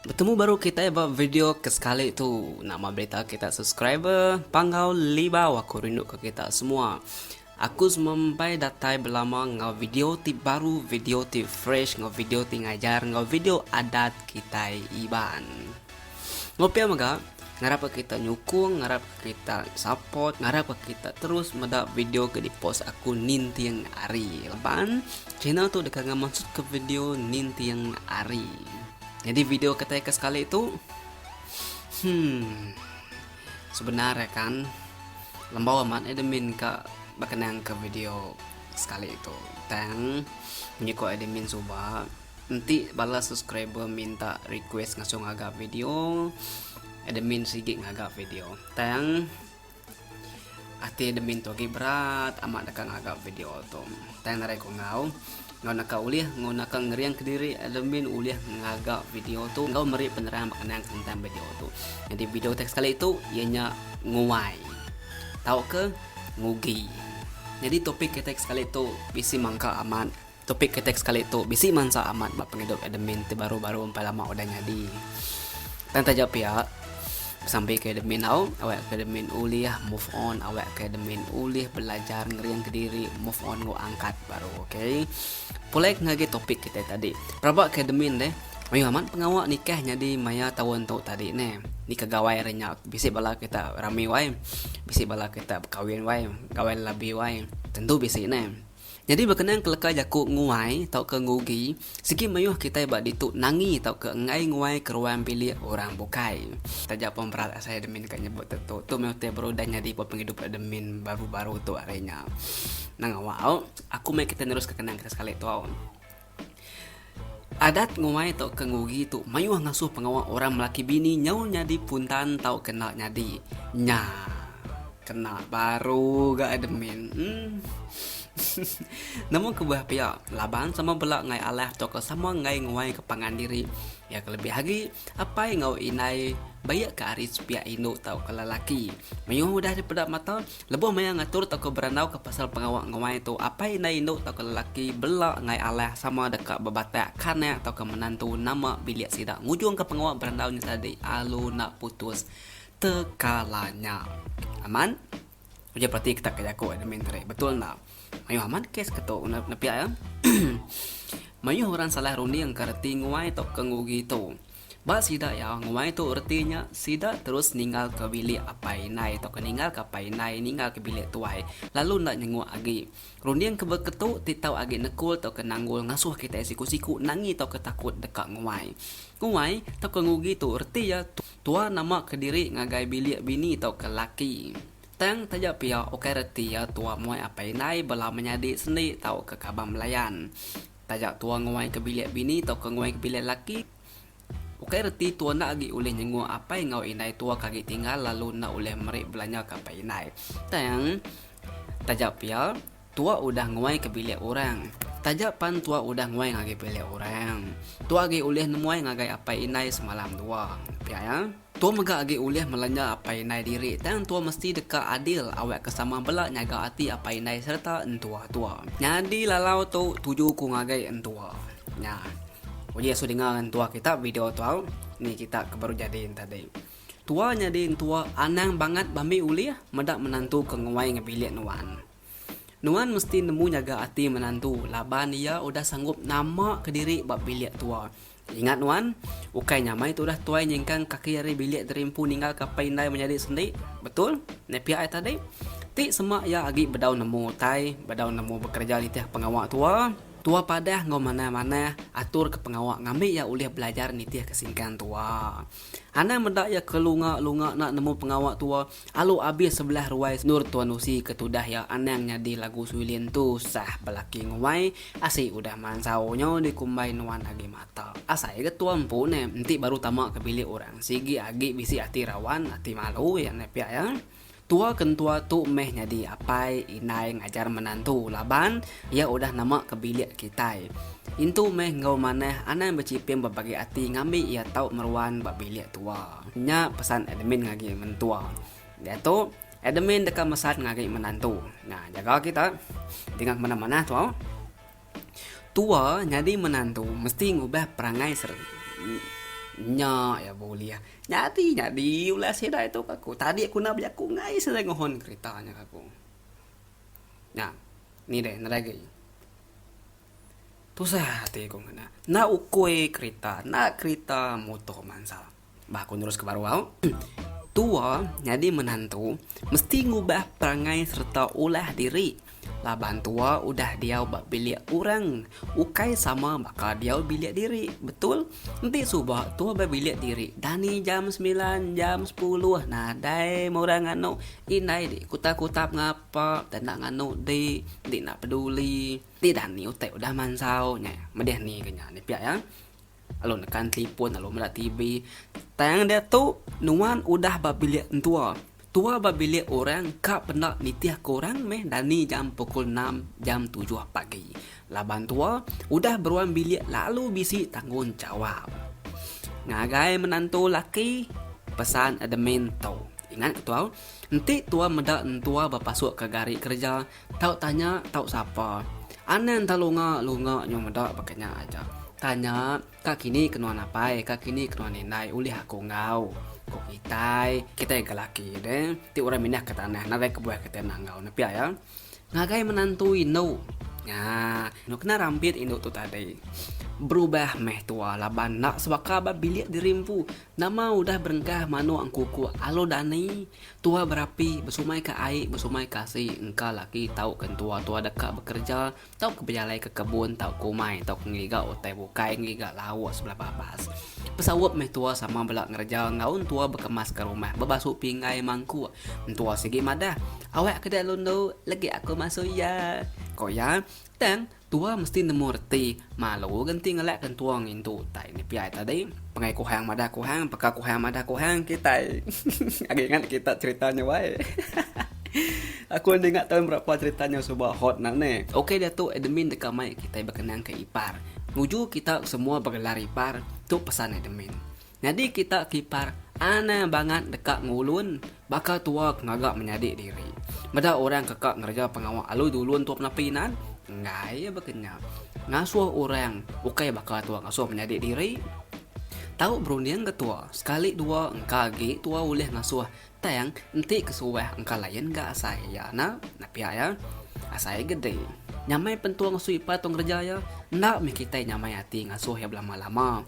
Betemu baru kitai ba video ke sekali tu. Nama berita kita subscriber panggau libau aku rindu ke kita semua. Aku semempai datai belama ngau video ti baru, video ti fresh, ngau video ti ngajar, ngau video adat kitai Iban. Ngopia mega, ngarapka kita nyukung, ngarapka kita support, ngarapka kita terus meda video ke dipost aku ninting hari. Laban channel tu deka ngamansutka video ninting hari. Jadi video ketai ke sekali tu hmm sebenar ya kan lembau amat admin ka berkenang ke video sekali tu. Tang menyuka admin suba. Enti bala subscriber minta request ngasuh ngaga video, admin sigi ngaga video. Tang ati admin tu agi berat amat deka ngaga video tu. Tang narai ku enggau enggau naka ulih enggau naka ngering kediri admin ulih ngaga video tu enggau meri penerang bekenang tentang video tu. Jadi video teks kali tu iya nya nguai tauka ngugi. Jadi topik kita sekali tu bisi mangka amat Topik kitai ke sekali tu bisi mansa amat ba pengidup admin ti baru-baru empai lama udah nyadi. Tang taja pia, besampi ke admin au, awak ke admin ulih move on, awak ke admin ulih belajar ngering ke diri move on enggau angkat baru. Ok. Pulai ke ngagai topik kitai tadi. Peraba ke admin deh, mayuh amat pengawa nikah nyadi maya taun tu tadi neh. Nika gawai ari nya. Bisi bala kita rami wai. Bisi bala kita bekawin wai. Gawai labi wai. Tentu bisi neh. Nyadi bekenang keleka jaku nguai tauka ngugi, sigi mayuh kitai ba ditu nangi tauka enggai nguai ke ruang bilik orang bukai. Taja pun berat asai admin ka nyebut tentu, tu meh utai baru udah nyadi ba pengidup admin baru-baru tu ari nya. Nang awal, aku meh kitai neruska kenang kitai sekali tu. Adat nguai tauka ngugi tu mayuh ngasuh pengawa orang melaki bini nyau nyadi puntan tauka enda nyadi. Nya. Kena baru ga admin. Uhmm. Nemu kebuah pia, laban sama bela ngai alah tauka sama ngai nguai ke pangan diri. Iya ke lebih agi, apai enggau indai baik ke ari sepiak indu tauka lelaki. Mayuh udah dipeda mata, Lebuh maya ngatur tauka berandauka pasal pengawa nguai tu, apai indai indu tauka lelaki bela enggai alah sama deka bebatak kanak tauka menantu nama bilik sida ngujungka pengawa berandau nya tadi alu enda putus tekalanya. Aman, ujar perati kitak ke jaku admin tadi. Betul enda? Mayuh amat kes ke tu nepiak iya. Mayuh orang salah rundingka reti nguai tauka ngugi tu. Ba sida iya nguai tu reti nya sida terus ninggalka bilik apai indai tauka ninggalka apai indai ninggalka bilik tuai lalu enda nyenguk agi. Runding ke beketu ti tau agi nekul tauka nanggul ngasuh kitai siku-siku nangi tauka takut deka nguai. Nguai tauka ngugi tu reti iya tuar nama kediri ngagai bilik bini tauka laki. Tang taja pia ukai reti iya tuar muai apai indai bela menyadi sendi tauka kaban belayan. Taja tua nguaika bilik bini tauka nguaika bilik laki, ukai reti tua enda agi ulih nyenguk apai enggau indai tua ke agi tinggal lalu enda ulih meri belanja ke apai indai. Tang, taja pia, tua udah nguaika bilik orang. Taja pan tua udah nguai ngagai bilik orang, tua agi ulih nemuai ngagai apai indai semalam dua. Pia iya. Tua mega agi ulih melanja apai indai diri tang tua mesti deka adil awakka sama bela nyaga ati apai indai sereta entua-tua. Nyadi lalau tu tuju ku ngagai entua. Nya. Uji asu dinga entua kita video tu au ni kita ke baru jadi enti tadi. Tua nyadi entua anang bangat ba mih ulih meda menantu ke nguai ngebilik nuan. Nuan mesti nemu nyaga ati menantu laban iya udah sanggup nama kediri ba bilik tua. Ingat nuan, ukai nyamai tu udah tuai nyingkang kaki ari bilik diri empu ninggalka apai indai menyadi sendi. Betul? Nepia ai tadi. Ti sema iya agi bedau nemu utai, bedau nemu bekereja nitih pengawa tua. Tua padah enggau manah-manah aturka pengawa ngambi iya ulih belajar nitihka singkang tua. Anang meda iya ke lunga-lunga enda nemu pengawa tua. Alu abis sebelah ruai Nur Tuan Usi ke tudah iya anang nyadi lagu Suilin Tusah belaki nguai Asi udah mansau nyo dikumbai nuan agi mata Asai ga tua empu ne enti baru tama ke bilik orang sigi agi bisi ati rawan ati malu iya ne pia iya Tua ke entua tu meh nyadi apai indai ngajar menantu laban iya udah nama ke bilik kitai Intu meh enggau manah anang bechiping bebagi ati ngambi iya tau meruan ba bilik tua. Nya pesan admin ngagi mentua. Diatu, admin deka mesan ngagi menantu. Nya jaga kita dinga ke manah-manah tu. Tua nyadi menantu mesti ngubah perangai sereta nya iya bulih. Nyadi nyadi ulah sida itu ke aku. Tadi aku enda bejaku ngai sida ngohon kerita nya ke aku. Nya. Ni deh nerai agi. Tusah ati ku ngena. Enda ukui kerita, enda kerita muto mansa. Bah ku neruska baru au. Tua nyadi menantu mesti ngubah perangai sereta ulah diri laban tua udah diau ba bilik orang ukai sama baka diau bilik diri. Betul? Enti suba tua ba bilik diri dani jam semilan, jam sepuluh nadai meh orang nganu. Indai dih kutap-kutap ngapa, enda nganu dih, enda peduli. Ti dah ni utai udah mansau nya medih ni ke nya ni pia iya lalu nekan telefon lalu meda TV tang diatu nuan udah ba bilik entua tua ba bilik orang ka penda nitih ke orang meh dani jam pukul enam jam tujuh pagi laban tua udah beruan bilik lalu bisi tanggungjawab ngagai menantu laki pesan admin tu. Ingat ketuau, enti tuau meda entua bepasuk ke gari kereja, tau tanya tau sapa. Anang tau lunga lunga nyau meda baka nya aja. Tanya, ka kini ke nuan apai, ka kini ke nuan indai ulih aku enggau? Ku kitai, kitai ga laki deh, ti orang mindah ke tanah nadai kebuah kitai enda enggau ne pia iya. Ngagai menantu indu. Nya, enu kena rambit indu tu tadi. Berubah meh tuau laban enda sebaka ba bilik diri empu, Nama udah berengkah manok engkukuk alu dani, tua berapi, besumai ka ai, besumai ka asi, engka laki tauka entua-tua deka bekereja, tauka bejalai ke kebun tauka umai, tauka ngeliga utai bukai, ngeliga lauk sebelah babas. Pesaup meh tua sama bela ngereja enggau entua bekemas ka rumah, bebasu pinggai mangkuk. Entua sigi madah, Awakka dia alu endu, legi aku masu iya, ko iya. Tang, Tua mesti nemu reti malu ga enti ngelak ke entua ngintu utai nipiai tadi pengai kuhang madah kuhang peka kuhang madah kuhang kitai agi ingat kita cerita nya wai hahaha aku enda ingat taun berapa cerita nya suba hot nya ni. Ok datu admin deka mai kitai bekenang ke ipar nuju kita semua begelar ipar tu pesan admin Nyadi kita kipar anang bangat deka ngulun baka tua ke ngaga menyadi diri. Meda orang ke ka ngereja pengawa alui dulun tua penapi inan, enggai iya baka nya. Ngasuh orang ukai baka tua ngasuh menyadi diri. Tau berunding ke tua, sekali dua engka agi tua ulih ngasuh Tang enti ke suah engka lain ga asai iya ena napiak iya asai gede. Nyamai pentua ngasuh ipai tu ngereja iya enda mih kitai nyamai ati ngasuh iya belama lama.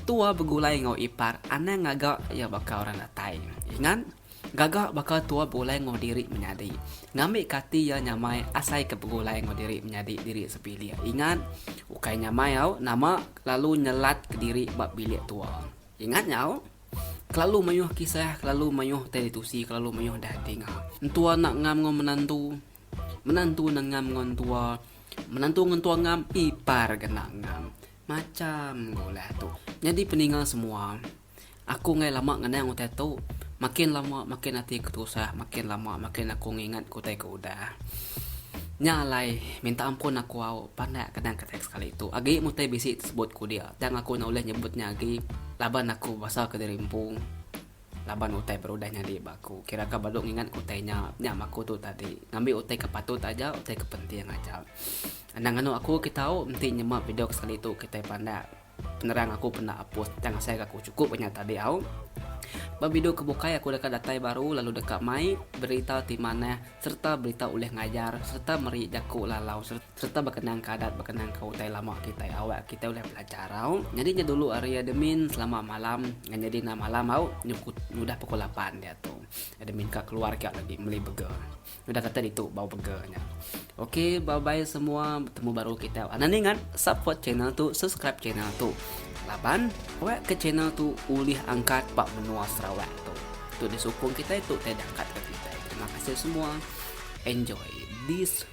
Tua begulai enggau ipar anang ngaga iya baka orang datai. Ingat, gaga baka tua begulai enggau diri menyadi. Ngambi ke ati iya nyamai asai ke begulai enggau diri menyadi diri sepilih. Ingat, ukai nyamai au nama lalu nyelat kediri ba bilik tua. Ingat nyau, kelalu mayuh kisah, kelalu mayuh telitusi, kelalu mayuh dah dinga. Entua enda ngam enggau menantu, menantu enda ngam enggau entua, menantu enggau entua ngam, ipar ga enda ngam. Macham ga ulah tu. Nyadi peninga semua, aku enggai lama ngenang utai tu, makin lama makin ati ku tusah, makin lama makin aku ngingat ke utai ke udah. Nya alai, minta ampun aku au, pandai kadang ke sekali tu. Agi mutai bisi tesebut ku dia. Tang aku enda ulih nyebut nya agi laban aku basa ke diri empu laban utai baru udah nyadi ba aku kira ka baru ngingat utai nya nya ma aku tu tadi ngambi utai ke patut aja utai ke penting aja. Anang anu aku ke tau enti nyema video ke sekali tu kitai pandak penerang aku penda apus tang asai ga aku chukup ba nya tadi au. Ba video ke bukai aku deka datai baru lalu deka mai berita ti manah sereta berita ulih ngajar sereta meri jaku lalau sereta. sereta bekenangka adat bekenangka utai lama kitai awak kitai ulih belajar au nyadi nya dulu hari admin selama malam ngan nyadi enda malam au nyudah pukul lapan diatu admin ka keluar kiau agi meli burger udah kata ditu bau burger nya ok bye bye semua betemu baru kitai anak ningat support channel tu subscribe channel tu laban awak ke channel tu ulih angkat ba menua sarawak tu tu disukung kitai tu utai diangkat ka kitai terima kasih semua enjoy this